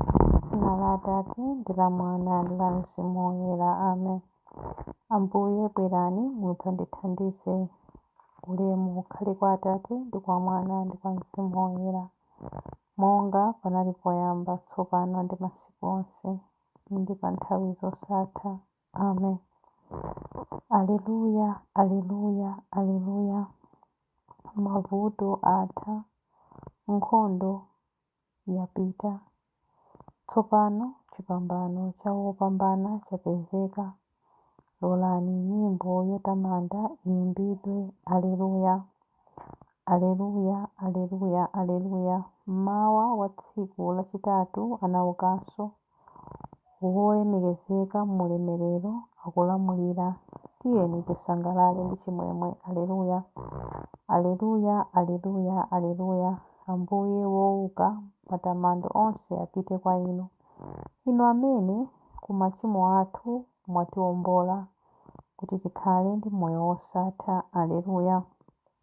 M'dzina la Atate, ndi la Mwana, ndi la Mzimu Woyera. Amen. Ambuye, bwerani, mudzandithandize. Ulemu ukhale kwa Atate, ndi kwa Mwana, ndi kwa Mzimu Woyera. Monga panali poyamba, tsopano, ndi masiku onse, ndi pa nthawi zosatha. Amen. Aleluya, Aleluya, Aleluya. Mavuto atha, nkhondo yapita. Tsopano chipambano cha wopambana chapezeka. Lolani nyimbo yotamanda iyimbidwe. Aleluya! Aleluya! Aleluya! Aleluya! Mmawa wa tsiku lachitatu anaukanso. Wolemekezeka m'ulemerero akulamulira, tiyeni tisangalale ndi chimwemwe. Aleluya, Aleluya, Aleluya, Aleluya, Ambuye wouka, matamando onse apite kwa Inu. Inu amene ku machimo athu mwatiombola kuti tikhale ndi moyo wosatha. Aleluya.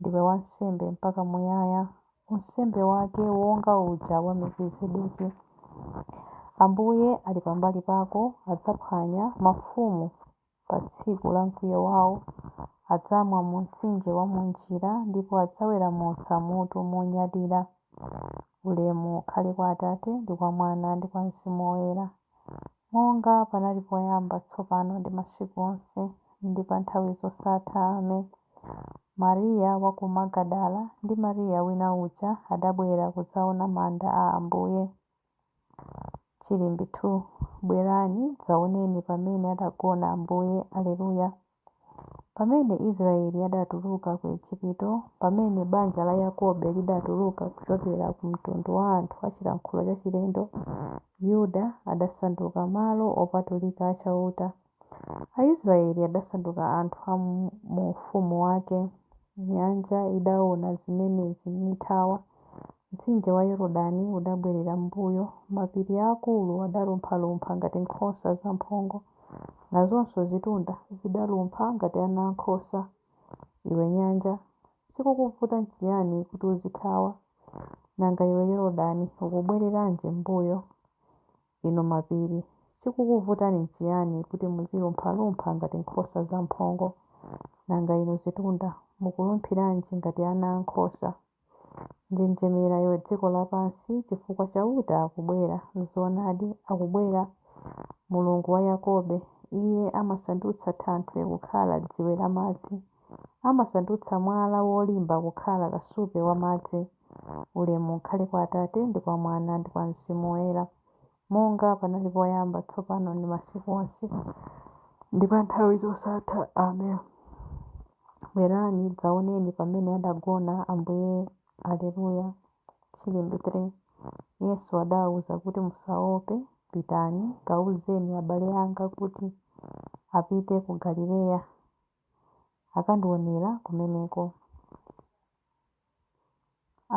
Ndiwe wansembe mpaka muyaya, unsembe wake wonga uja wa Melkizedeki. Ambuye ali pambali pako, adzaphwanya mafumu pa tsiku la mkwiyo wao, adzamwa mu mtsinje wa mu njira, ndipo adzaweramutsa mutu monyadira. Ulemu ukhale kwa Atate, ndi kwa Mwana, ndi kwa Mzimu Woyera. Monga panali poyamba, tsopano, ndi masiku onse, ndi pa nthawi zosatha. Amen. Mariya wa ku Magadala ndi Mariya wina uja adabwera kudzaona manda a Ambuye. Chilimbi 2. Bwerani, dzaoneni pamene adagona Ambuye. Aleluya. Pamene Israyeli adatuluka ku Ejipito, pamene banja la Yakobe lidatuluka kuchokera ku mtundu wa anthu a chilankhulo chachilendo, Yuda adasanduka malo opatulika a Chauta, Aisrayeli adasanduka anthu a mu ufumu wake. Nyanja idaona zimenezi, nithawa, mtsinje wa Yorodani udabwerera m'mbuyo, mapiri aakulu adalumphalumpha ngati nkhosa zamphongo. Nazonso zitunda zidalumpha ngati ana a nkhosa. Iwe nyanja, chikukuvuta n'chiyani kuti uzithawa? Nanga iwe Yorodani, ukubwereranji m'mbuyo? Inu mapiri, chikukuvutani n'chiyani kuti muzilumphalumpha ngati nkhosa zamphongo? Nanga inu zitunda, mukulumphiranji ngati ana a nkhosa? njenjemera iwe dziko lapansi, chifukwa Chauta akubwera, zoonadi, akubwera, Mulungu wa Yakobe. Iye amasandutsa thanthwe kukhala dziwe la madzi, amasandutsa mwala wolimba kukhala kasupe wa madzi. Ulemu ukhale kwa Atate, ndi kwa Mwana, ndi kwa Mzimu Woyera. Monga panali poyamba, tsopano, ndi masiku onse, ndi pa nthawi zosatha. Amen. Bwerani, dzaoneni pamene adagona Ambuye. Aleluya! Chilimbi 3. Yesu adawauza kuti, Musaope, pitani, kauzeni abale anga kuti apite ku Galileya, akandionera kumeneko.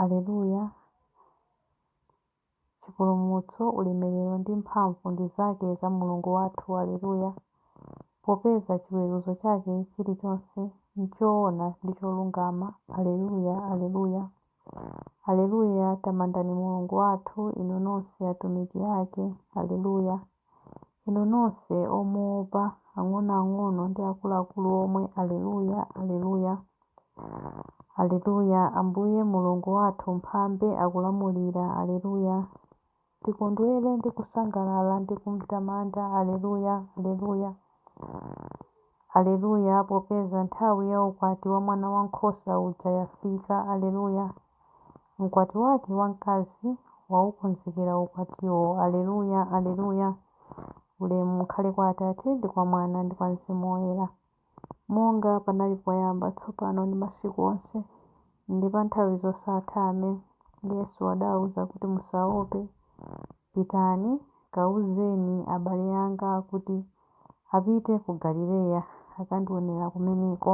Aleluya! Chipulumutso, ulemerero ndi mphamvu ndi zake za Mulungu wathu. Aleluya. Popeza chiweruzo chake chilichonse nchoona ndi cholungama. Aleluya, Aleluya. Aleluya, Tamandani Mulungu wathu, inu nonse atumiki ake. Aleluya. Inu nonse omuopa, ang'onoang'ono ndi akuluakulu omwe, Aleluya, Aleluya! Aleluya! Ambuye Mulungu wathu, Mphambe, akulamulira. Aleluya! Tikondwere ndi kusangalala ndi kumtamanda. Aleluya, Aleluya! Aleluya, popeza nthawi ya ukwati wa Mwanawankhosa uja yafika. Aleluya! Mkwati Wake wamkazi waukonzekera ukwatiwo. Aleluya! Aleluya! Ulemu ukhale kwa Atate, ndi kwa Mwana, ndi kwa Mzimu Woyera. Monga panali poyamba, tsopano, ndi masiku onse, ndi pa nthawi zosatha. Amen. Yesu adawauza kuti, Musaope. Pitani, kauzeni abale anga kuti apite ku Galileya, akandionera kumeneko.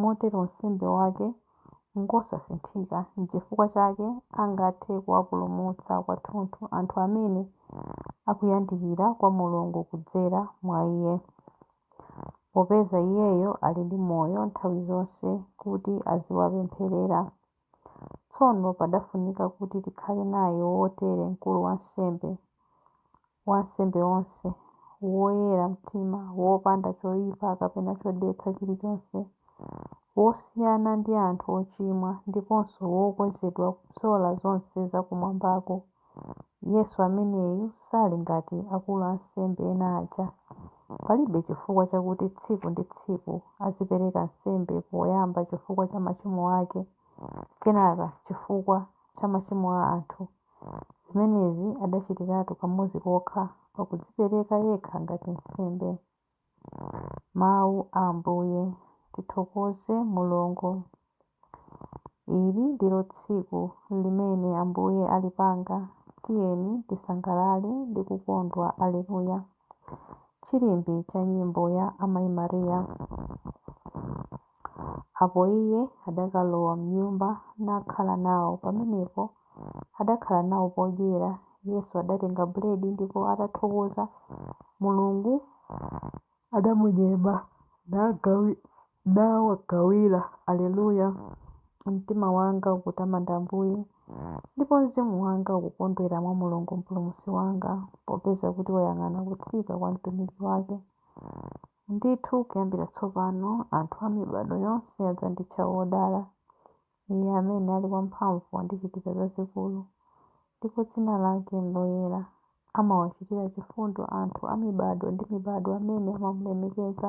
Motero unsembe wake ngosasinthika, n'chifukwa chake angathe kuwapulumutsa kwathunthu anthu amene akuyandikira kwa Mulungu kudzera mwa iye, popeza iyeyo ali ndi moyo nthawi zonse kuti aziwapempherera. Tsono padafunika kuti tikhale naye wotere mkulu wansembe wa ansembe onse, woyera mtima, wopanda choyipa kapena chodetsa chilichonse, wosiyana ndi anthu ochimwa ndiponso wokwezedwa kupyola zonse za kumwambako, Yesu ameneyu sali ngati akulu ansembe ena aja. Palibe chifukwa chakuti tsiku ndi tsiku azipereka nsembe poyamba chifukwa cha machimo ake kenaka chifukwa cha machimo a anthu. Zimenezi adachitiratu kamodzi kokha pakudzipereka yekha ngati nsembe. Mawu a Ambuye. Tithokoze Mulungu. Ili ndilo tsiku limene Ambuye alipanga, tiyeni tisangalale ndi kukondwa. Alleluia. Chilimbi cha nyimbo ya Amai Maria. Apo Iye adakalowa m'nyumba nakhala nawo. Pamenepo adakhala nawo podyera. Yesu adatenga buledi, ndipo atathokoza Mulungu, adamunyema, nawagawira. Alleluia, Mtima wanga ukutamanda Ambuye, ndipo mzimu wanga ukukondwera mwa Mulungu Mpulumutsi wanga, popeza kuti wayang'ana kutsika kwa mtumiki wake. Ndithu kuyambira tsopano anthu a mibadwo yonse adzanditcha wodala. Iye amene ali wamphamvu wandichitira zazikulu, ndipo dzina lake n'loyera. Amawachitira chifundo anthu a mibadwo ndi mibadwo amene amamulemekeza.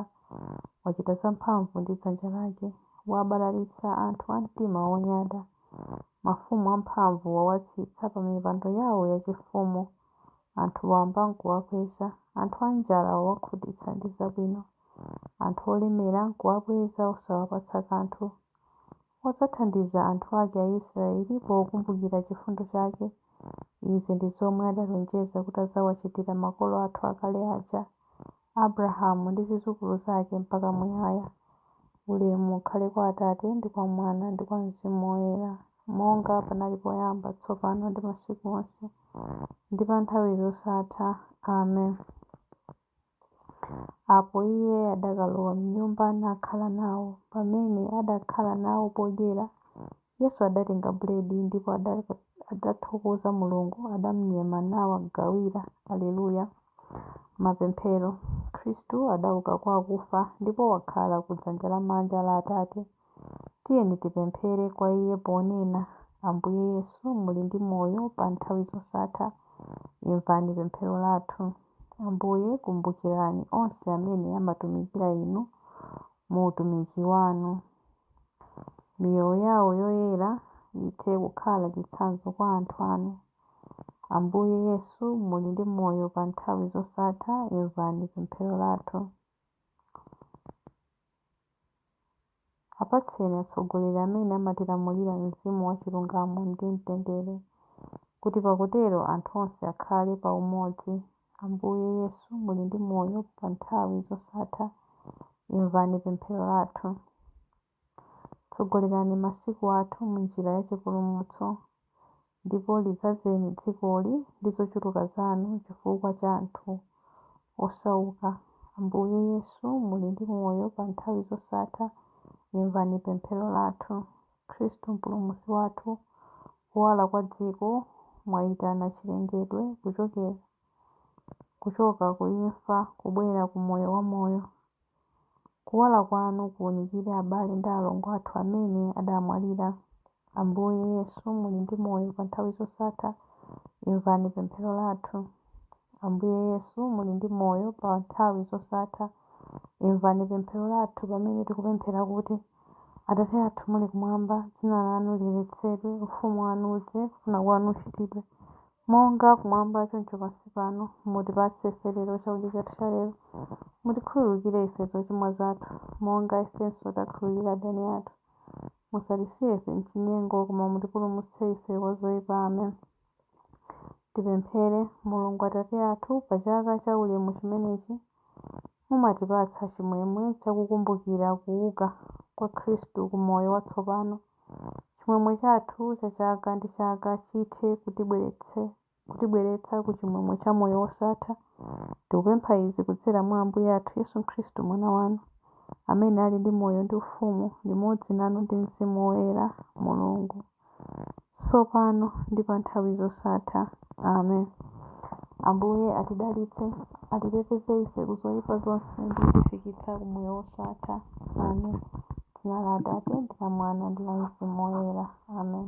Wachita zamphamvu ndi dzanja lake. Wabalalitsa anthu a mtima wonyada. Mafumu amphamvu wawatsitsa pamipando yawo yachifumu. Anthu wamba n'kuwakweza, anthu anjala wawakhutitsa ndi zabwino. Anthu olemera n'kuwabweza osawapatsa kanthu. Wadzathandiza anthu ake Aisiraeli pokumbukira chifundo chake. Izi ndi zomwe adalonjeza kuti adzawachitira makolo athu akale aja, Abulahamu ndi zidzukulu zake mpaka muyaya. Ulemu ukhale kwa Atate ndi kwa Mwana ndi kwa mzimu woyera. Monga panali poyamba, tsopano, ndi masiku onse, ndi pa nthawi zosatha. Amen. Apo Iye adakalowa m'nyumba nakhala nawo. Pamene adakhala nawo podyera, Yesu adatenga buledi, ndipo adathokoza Mulungu, adamnyema, nawagawira. Alleluia, Mapemphero, Khristu adauka kwa akufa, ndipo wakhala ku dzanja lamanja la Atate. Tiyeni tipemphere kwa Iye ponena, Ambuye Yesu, muli ndi moyo pa nthawi zosatha, imvani pemphero lathu. Ambuye, kumbukirani onse amene amatumikira Inu mu utumiki Wanu. Miyoyo yawo yoyera ithe kukhala chitsanzo kwa anthu Anu. Ambuye Yesu, muli ndi moyo pa nthawi zosatha, imvani pemphero lathu. Apatseni atsogoleri amene amatilamulira mzimu wa chilungamo ndi mtendere, kuti pakutero anthu onse akhale pa umodzi. Ambuye Yesu, muli ndi moyo pa nthawi zosatha, imvani pemphero lathu. Tsogolerani masiku athu m'njira ya chipulumutso, ndipo lidzazeni dzikoli ndi zochuluka zanu chifukwa cha anthu osauka. Ambuye Yesu, muli ndi moyo pa nthawi zosatha, imvani pemphero lathu. Khristu Mpulumutsi wathu, kuwala kwa dziko, mwaitana chilengedwe kuchoka ku imfa kubwera ku moyo wamoyo. Kuwala kwanu kuunikire abale ndi alongo athu amene adamwalira. Ambuye Yesu, muli ndi moyo pa nthawi zosatha, imvani pemphero lathu. Ambuye Yesu, muli ndi moyo pa nthawi zosatha, imvani pemphero lathu pamene tikupemphera kuti, Atate athu muli kumwamba, dzina lanu liyeretsedwe, ufumu wanu udze, kufuna kwanu kuchitidwe, Monga kumwamba choncho pansi pano, mutipatse ife lero chakudya chathu cha lero. Mutikhululukire ife zochimwa zathu, monga ifenso takhululukira adani athu. Musatisiye ife m'chinyengo, koma mutipulumutse ife kwa zoipa. Amen. Tipemphere, Mulungu Atate athu, pa chaka cha ulemu chimenechi, Mumatipatsa chimwemwe cha kukumbukira kuuka kwa Kristu ku moyo watsopano. Chimwemwe chathu cha chaka ndi chaka chithe kutibweretsa ku chimwemwe cha moyo wosatha. Tikupempha izi kudzera mwa Ambuye athu Yesu Kristu, Mwana wanu, amene ali ndi moyo ndi ufumu limodzi nanu ndi Mzimu Woyera, Mulungu. tsopano ndi pa nthawi zosatha. Amen. Ambuye atidalitse, atiteteze ife ku zoyipa zonse ndi kutifikitsa ku moyo wosatha. Amen. Dzina la Atate, ndi la Mwana, ndi la Mzimu Woyera. Amen.